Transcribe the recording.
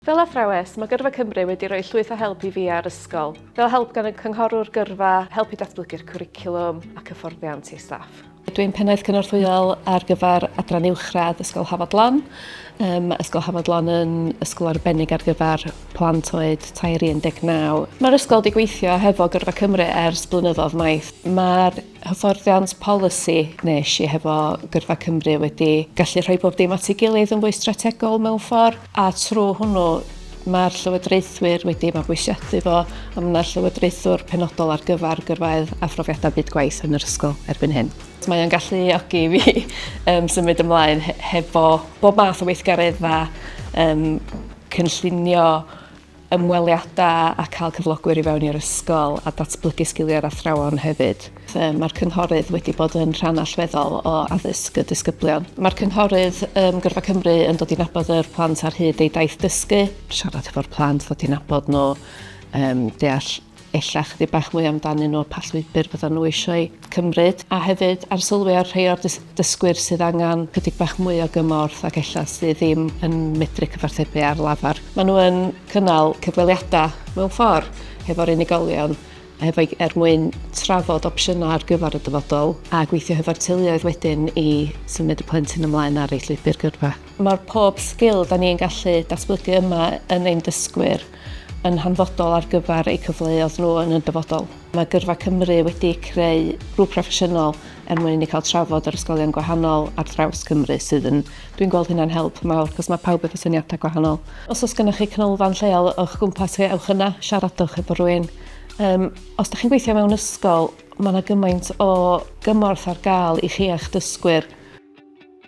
Fel athrawes, mae Gyrfa Cymru wedi rhoi llwyth o help i fi a'r ysgol, fel help gan y cynghorwr gyrfa, help i datblygu'r cwricwlwm ac hyfforddiant i staff. Dw i'n Pennaeth Cynorthwyol ar gyfer Adran Uwchradd Ysgol Hafod Lan. Mae Ysgol Hafod Lan yn ysgol arbennig ar gyfer plant oed tair i 19. Mae'r ysgol wedi gweithio hefo Gyrfa Cymru ers blynyddoedd maith. Mae'r hyfforddiant polisi nes i hefo Gyrfa Cymru wedi gallu rhoi bob dim at ei gilydd yn fwy strategol mewn ffordd a trwy hwnnw mae'r llywodraethwyr wedi mabwysiadu fo a mae yna llywodraethwr penodol ar gyfer gyrfaoedd a phrofiadau byd gwaith yn yr ysgol erbyn hyn. Mae o'n galluogi fi um, symud ymlaen hefo bob math o weithgaredda um, cynllunio ymweliadau a cael cyflogwyr i fewn i'r ysgol a datblygu sgiliau'r athrawon hefyd. Mae'r Cynghorydd wedi bod yn rhan allweddol o addysg y disgyblion. Mae'r Cynghorydd ym Gyrfa Cymru yn dod i nabod yr plant ar hyd eu daith dysgu, siarad hefo'r plant, ddod i nabod nhw, deall ella chydig bach mwy amdanyn nhw, pa llwybr fyddan nhw eisiau ei cymryd, a hefyd arsylwi ar rhai o'r dysgwyr sydd angen chydig bach mwy o gymorth ac ella sydd ddim yn medru cyfarthrebu ar lafar. Maen nhw yn cynnal cyfweliadau mewn ffordd hefo'r unigolion hefo, er mwyn trafod opsiynau ar gyfer y dyfodol a gweithio hefo'r teuluoedd wedyn i symud y plentyn ymlaen ar ei llwybr gyrfa. Mae'r pob sgil da ni'n gallu datblygu yma yn ein dysgwyr. yn hanfodol ar gyfer eu cyfleoedd nhw yn y dyfodol. Mae Gyrfa Cymru wedi creu grŵp proffesiynol er mwyn i ni cael trafod yr ysgolion gwahanol ar draws Cymru sydd yn, dwi'n gweld hynna'n help mawr cos mae pawb efo syniadau gwahanol. Os oes gennych chi canolfan lleol o'ch gwmpas chi, ewch yna, siaradwch efo rhywun. Um, os ydych chi'n gweithio mewn ysgol, mae yna gymaint o gymorth ar gael i chi a'ch dysgwyr.